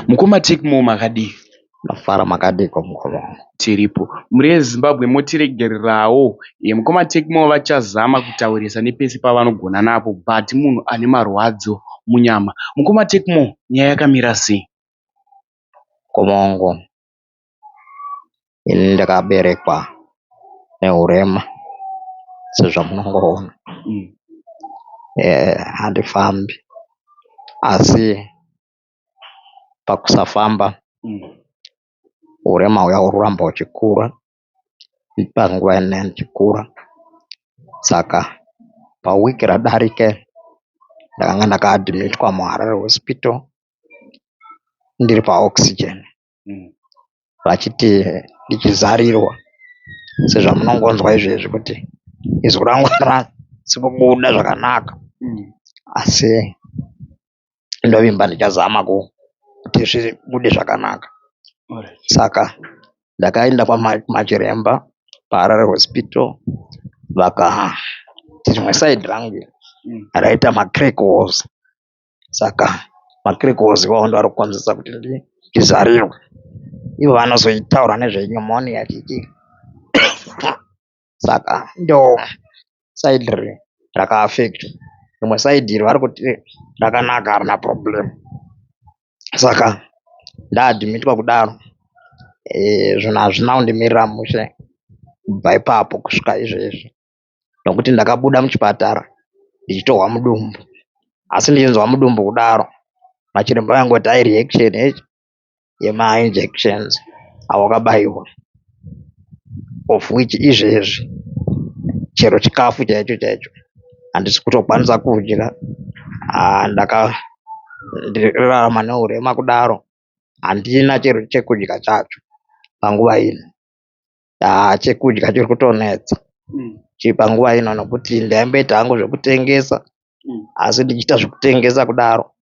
Mukoma Techmore makadii. Ndafara makadiiko mukoma wangu. Tiripo. Mhuri yeZimbabwe motiregererawo. Eeh mukoma Techmore vachazama kutaurisa nepese pavanogona napo but munhu ane marwadzo munyama. Mukoma Techmore nyaya yakamira sei. Mukoma wangu ini ndakaberekwa nehurema sezvamunongoona. Eeh handifambi asi pakusafamba urema huya hurikuramba huchikura panguva ino huchikura saka paweek radarika iri ndakanga ndaka adhimitwa muHarare hosipito ndiri paOxygen vachiti ndichizarirwa sezvamunongonzwa izvezvi kuti izwi rangu harisi kubuda zvakanaka asi. ndovimba ndichazama kuti zvibude zvakanaka saka ndakaenda kwamachiremba paHarare hospital vakati rimwe side rangu iri raita macrack walls saka macrack walls iwawo ndiwo ari kukonzeresa kuti ndizarirwe ivo vanozotaura nezve pneumonia chichi. saka ndo side iri raka affectwa rimwe side iri vari kuti rakanaka harina problem saka nda admitwa kudaro zvinhu hazvina kundimirira mushe kubva ipapo kusvika izvezvi nokuti ndakabuda muchipatara ndichitohwa mudumbu asi ndichinzwa mudumbu kudaro machiremba vaingoti i reaction yema injections awakabaiwa of which izvezvi chero chikafu chaicho chaicho handisi kutokwanisa kudya ah, ndaka ndirarama neurema kudaro handina chero chekudya chacho panguva ino ah, chekudya chiri kutonetsa mm. chii panguva ino nokuti ndaimboita hangu zvekutengesa mm. asi ndichiita zvekutengesa kudaro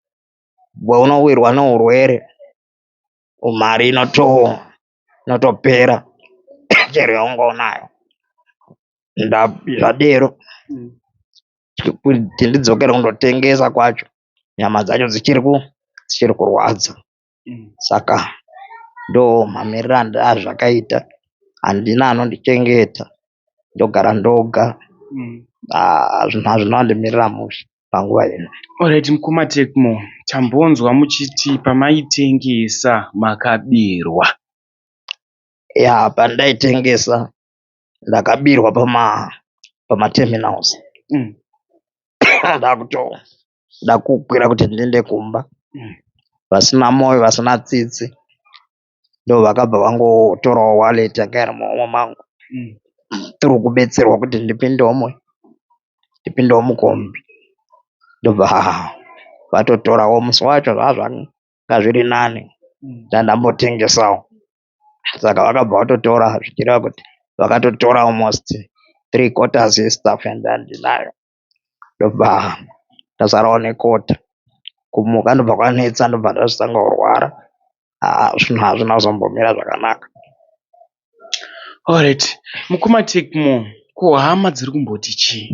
paunowirwa neurwere mari inotopera chero yaunga unayo zvadero kuti ndidzokere kundotengesa kwacho nyama dzacho dzichiri kurwadza saka ndomamiriro azvakaita handina anondichengeta ndogara ndoga hazvina kundimirira mushe. panguva ino. Alright mukoma Tecmo tambonzwa muchiti pamaitengesa makabirwa. Yaa pandaitengesa ndakabirwa pama pama terminals mm. ndakuto ndakukwira kuti ndiende kumba mm. vasina moyo vasina tsitsi ndovakabva vangotorawo wallet yanga iri muhomwe mangu through kubetserwa kuti ndipindewo mui ndipindewo mukombi ndobva vatotorawo musi wacho zvazvanga zviri nani ndandambotengesawo saka vakabva vatotora zvichireva kuti vakatotora almost three quarters yestuff yandandinayo ndobva ndasarawo nekota kumuka ndobva kwanetsa ndobva ndazotanga kurwara haa zvinhu hazvina kuzombomira zvakanaka. Horaiti mukoma Tecno ko hama dziri kumboti chii?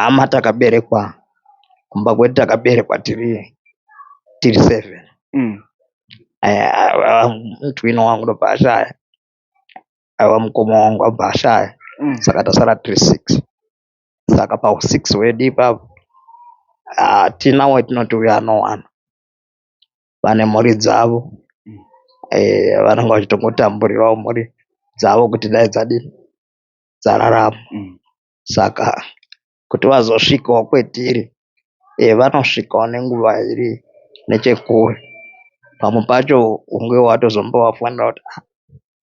Hama takaberekwa kumba kwedu takaberekwa tiri sevheni. Mutwino wangu ndobva ashaya aiwa mukoma wangu abva ashaya saka tasara tiri six saka pahusix hwedu ipapo hatina watinoti uyu anowana vane mhuri dzavo um vanenge vachitongotamburirawo mhuri dzavo kuti dai dzadini dzararama saka kuti vazosvikawo kwetiri um vanosvikawo nenguva iri nechekure pamwe pacho unge watozombovafona kuti a.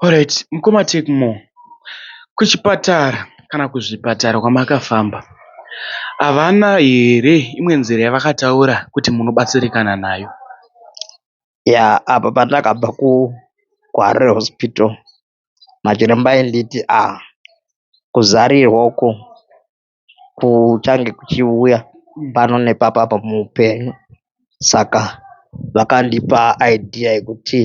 Horaiti mukoma Tecmo kuchipatara kana kuzvipatara kwamakafamba havana here imwe nzira yavakataura kuti munobatsirikana nayo. Yaa apa pandakabva kuHarare hospital machiremba ainditi aa kuzarirwa uku kuchange kuchiuya pano nepapa apa muupenyu saka vakandipa idea yekuti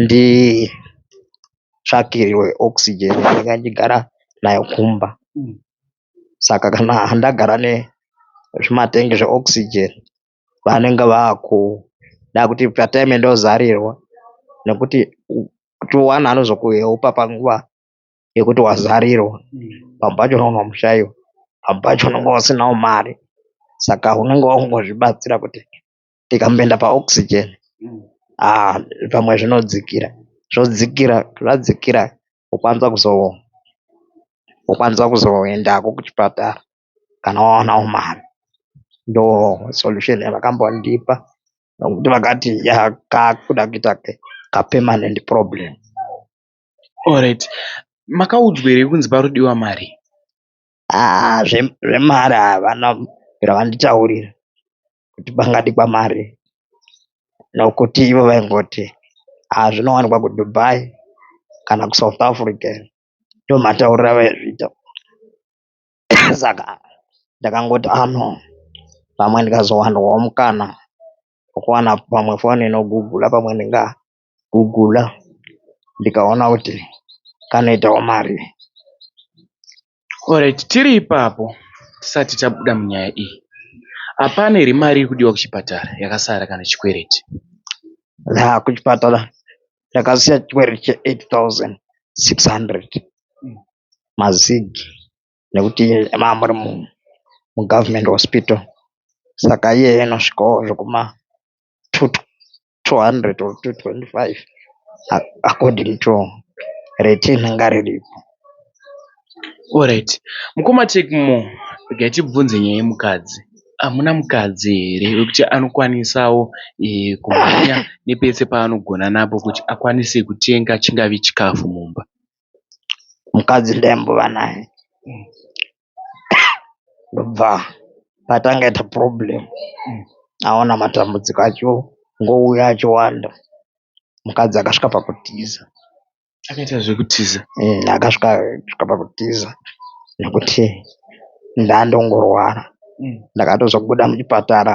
nditsvakirwe oxygen yandanga ndichigara nayo kumba saka kana ndagara nezvimatengi zveoxygen vanenge vakuda kuti patime ndozarirwa nekuti kuti one anozokuheopa panguva. yekuti wazarirwa pamwe pacho unenge wamushaiwa pamwe pacho unenge usinawo mari saka unenge wakungozvibatsira kuti ndikamboenda paOxygen aa pamwe zvinodzikira zvodzikira zvadzikira wokwanisa kuzo wokwanisa kuzoendako kuchipatara kana wawanawo mari ndosolution yavakambondipa nokuti vakati yaa kakuda kuita kapermanent problem. Alright makaudzwa here kunzi panodiwa mari. Haa zvemari havana kubvira vanditaurira kuti pangadikwa mari nokuti ivo vaingoti haa zvinowanikwa kuDubai kana kuSouth Africa ndomatauriro avaizviita saka ndakangoti haa no pamwe ndikazowanirwawo mukana wekuwana pamwe foni inogugula pamwe ndinga. kuguda ndikaona kuti kanoitawo mari. Alright tiri ipapo tisati tabuda munyaya iyi hapana here mari iri kudiwa kuchipatara yakasara kana chikwereti? Yaa kuchipatara ndakasiya chikwereti che 8600 mazig nekuti maa muri mugovernment hospital saka iyeyo inosvikawo zvekuma 200 or 225 according to rate inonga riripo. Alright mukoma Techmo regai tibvunze nyaya yemukadzi hamuna mukadzi here wekuti anokwanisawo kumhanya nepese paanogona napo kuti akwanise kutenga chingave chikafu mumba. Mukadzi ndaimbova naye ndobva patanga kuita problem aona matambudziko acho ngouya achiwanda mukadzi akasvika pakutiza akaita zvekutiza akasvika pakutiza nekuti ndandongorwara ndakatozobuda muchipatara.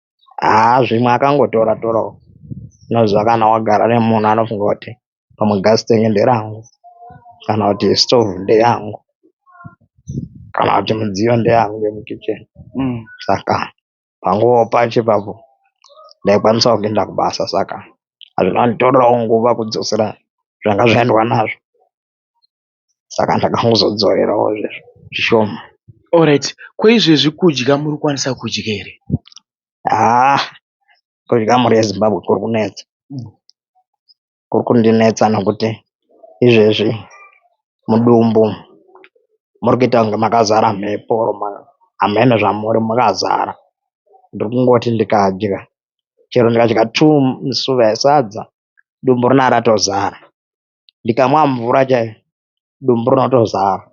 haa zvimwe akangotora torawo unoziva kana wagara nemunhu anofunga kuti pamwe gas tank nderangu kana kuti stove ndeyangu kana kuti midziyo ndeyangu yemukicheni mm. saka panguva pacho ipapo ndaikwanisawo kuenda kubasa saka hazvina nditorerawo nguva kudzosera zvanga zvaendwa nazvo saka ndakangozodzorerawo zvishoma. Alright ko izvezvi kudya muri kukwanisa kudya here? Haa kudya mhuri yeZimbabwe kuri kunetsa. Kuri kundinetsa nokuti izvezvi mudumbu muri kuita kunge makazara mhepo or hameno zvamuri makazara. Ndiri kungoti ndikadya chero ndikadya two musuva esadza dumbu rinenge ratozara. ndikamwa mvura chaiyo dumbu rinotozara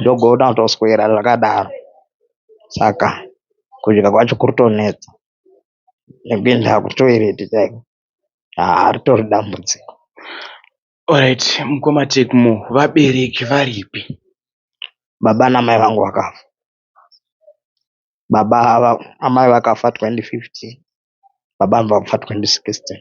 ndogona kutoswera zvakadaro saka kudya kwacho kuri kutonetsa nekuenda kutoireti chaiko haa ritori dambudziko. Alright mukoma Tecmo vabereki varipi? Baba namai vangu vakafa. Baba ava amai vakafa 2015 baba ava vafa 2016.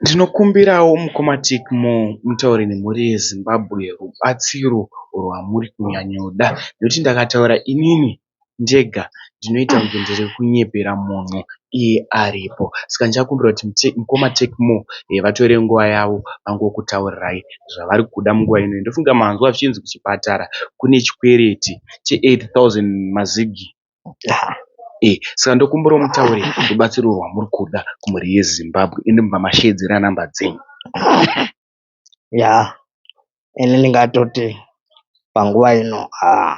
Ndinokumbirawo mukoma Tik Moo mutaure nemhuri yeZimbabwe rubatsiro rwamuri kunyanyoda nekuti ndakataura inini ndega ndinoita kunge ndiri kunyepera munhu iye aripo saka ndichakumbira kuti mukoma Tik Moo vatore nguva yavo vangokutaurirai zvavari kuda munguva ino. Ndofunga manzwa zvichinzi kuchipatara kune chikwereti che 8000 mazigi. Haa eh saka ndokumbirawo mutaure rubatsiro rwamuri kuda kumhuri yeZimbabwe ende mobva masheedzera number dzenyu. Yaa ini ndingatoti panguva ino haa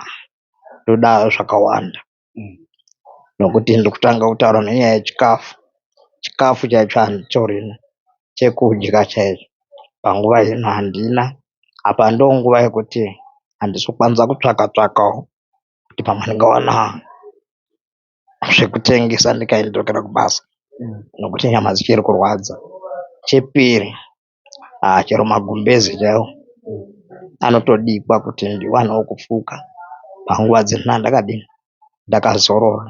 ndoda zvakawanda nokuti ndiri kutanga kutaura nenyaya yechikafu. Chikafu chaicho handichorina, chekudya chaicho panguva ino handina. Apa ndonguva yekuti handisi kukwanisa kutsvaka tsvakawo kuti pamwe ndingawana zvekutengesa ndikadzokera kubasa nekuti nyama dzichiri kurwadza. Chepiri aa chero magumbeze chaiwo anotodikwa kuti ndiwanewo kufuka panguva dzino ndakadini ndakazorora.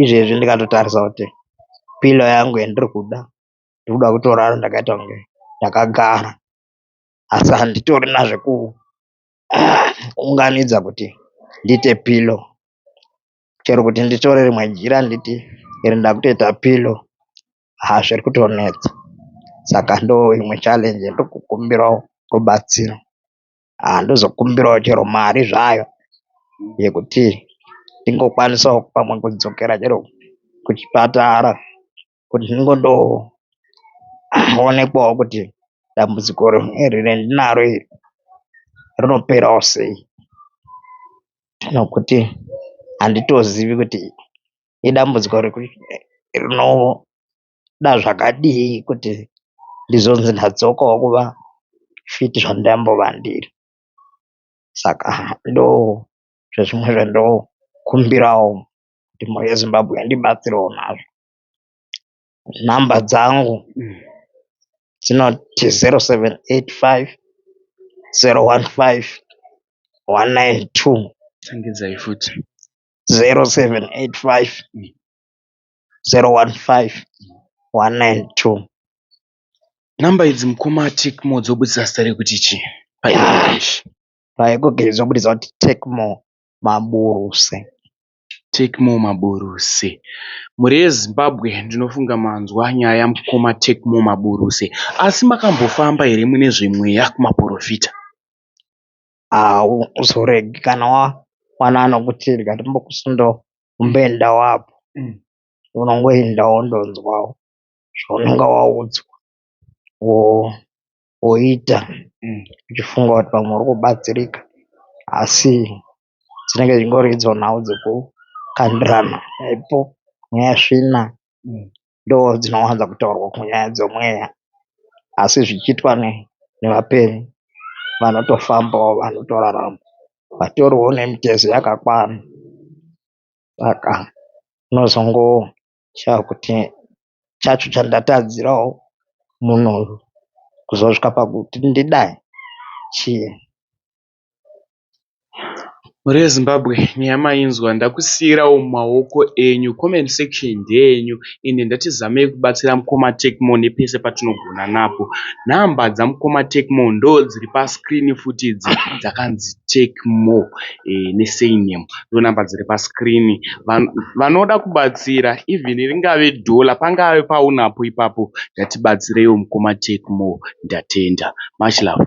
Izvezvi ndikatotarisa kuti pilo yangu yandiri kuda ndoda kutorara ndakaita kunge ndakagara asi handitorina zveku. unganidza kuti ndiite pillow chero kuti nditore rimwe jira nditi iri ndakutoita pillow haa zviri kutonetsa saka ndo imwe challenge ndokukumbirawo rubatsiro haa ndozokumbirawo chero mari zvayo yekuti ndingokwanisawo pamwe kudzokera chero kuchipatara kuti zvingondoonekwawo kuti dambudziko iri randinaro iri rinoperawo sei nokuti handitozivi kuti idambudziko rinoda zvakadii kuti ndizonzi ndadzokawo kuva fiti zvandambova ndiri. Saka ndozvimwe zvandokumbirawo kuti mhuri yeZimbabwe indibatsirewo nazvo. number dzangu dzinoti 0785019192. Number idzi mukoma Tec Mo dzobudisa zita rekuti chii paEnglish. PaGoogle dzobudisa kuti Tec Mo Maburuse. Tecmo Maburuse. Mhuri yeZimbabwe ndinofunga manzwa nyaya yamukoma Tecmo Maburuse. Asi makambofamba here mune zvemweya kumaporofita? Hauzoregi kana wawana anokuti rega timbokusundokumbendawo apo. Unongoenda wondonzwawo zvaunenge waudzwa. woita uchifunga kuti pamwe uri kubatsirika asi dzinenge dzingori idzo nhau dzekukandirana chaipo nyaya svina ndoodzinowanza kutaurwa kunyaya dzemweya asi zvichiitwa nevapenyu vanotofambawo vanotorarama vatoriwo nemitezo yakakwana saka unozongo. chakuti chacho chandatadzirawo munhu uyu kuzosvika pakuti ndidai chii. Mhuri yeZimbabwe nyaya mainzwa ndakusiirawo mumaoko enyu comment section ndeyenyu ende ndatizamei kubatsira mukoma Tecmo nepese patinogona napo. Number dzamukoma Tecmo ndodziri pascreen futi idzi dzakanzi Tecmo nesurname. ndonumber dziri pascreen vanoda kubatsira even ringave dollar pangave paunapo ipapo ngatibatsireiwo mukoma Tecno ndatenda much love.